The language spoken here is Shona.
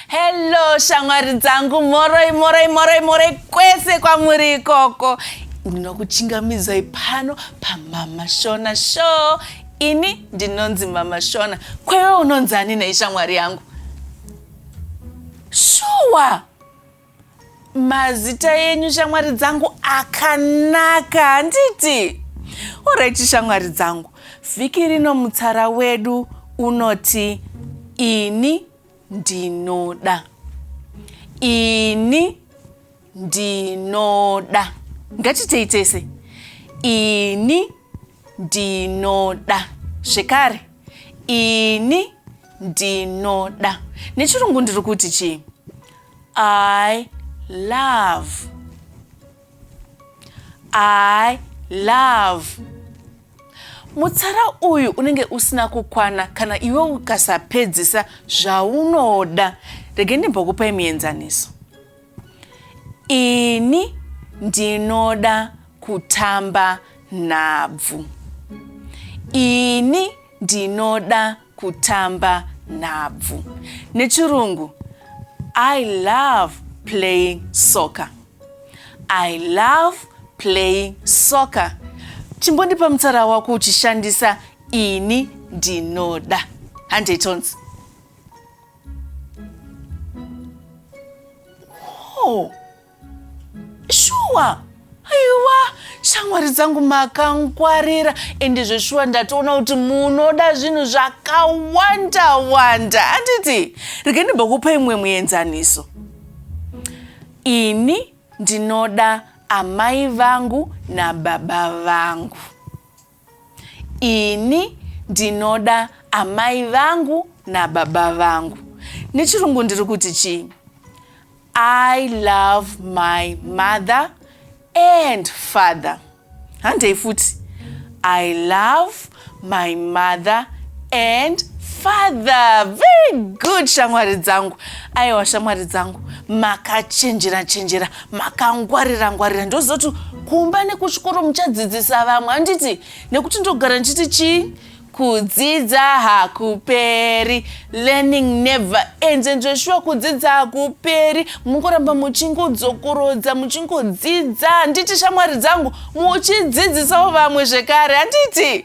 hello shamwari dzangu moroi moroi moroi moroi kwese kwamuri ikoko ndinokuchingamidzai pano pamama shona show ini ndinonzi mama shona kwewe unonzi ani nei shamwari yangu shuwa mazita yenyu shamwari dzangu akanaka handiti oraiti shamwari dzangu vhiki rino mutsara wedu unoti ini ndinoda ini ndinoda ngatitei tese ini ndinoda zvekare ini ndinoda nechirungu ndiri kuti chii i love i love mutsara uyu unenge usina kukwana kana iwe ukasapedzisa zvaunoda rege ndimbokupai muenzaniso Ini ndinoda kutamba nhabvu. Ini ndinoda kutamba nhabvu. Nechirungu, I love playing soccer. I love playing soccer. Chimbondipa mutsara wako uchishandisa ini ndinoda. Handei tonzi. Oh, shuwa aiwa shamwari dzangu makangwarira ende zveshuwa ndatoona kuti munoda zvinhu zvakawanda wanda handiti rege ndimbokupa imwe muenzaniso ini ndinoda amai vangu nababa vangu Ini ndinoda amai vangu nababa vangu. Nechirungu ndiri kuti chii? I love my mother and father. Handei futi. I love my mother and father. Very good shamwari dzangu. Aiwa shamwari dzangu makachenjera chenjera makangwarira ngwarira ndoziva kuti kumba nekuchikoro muchadzidzisa vamwe handiti nekuti ndogara ndichiti chii kudzidza hakuperi learning never ends and zveshuwa kudzidza hakuperi mungoramba muchingodzokorodza muchingodzidza handiti shamwari dzangu muchidzidzisawo vamwe zvekare handiti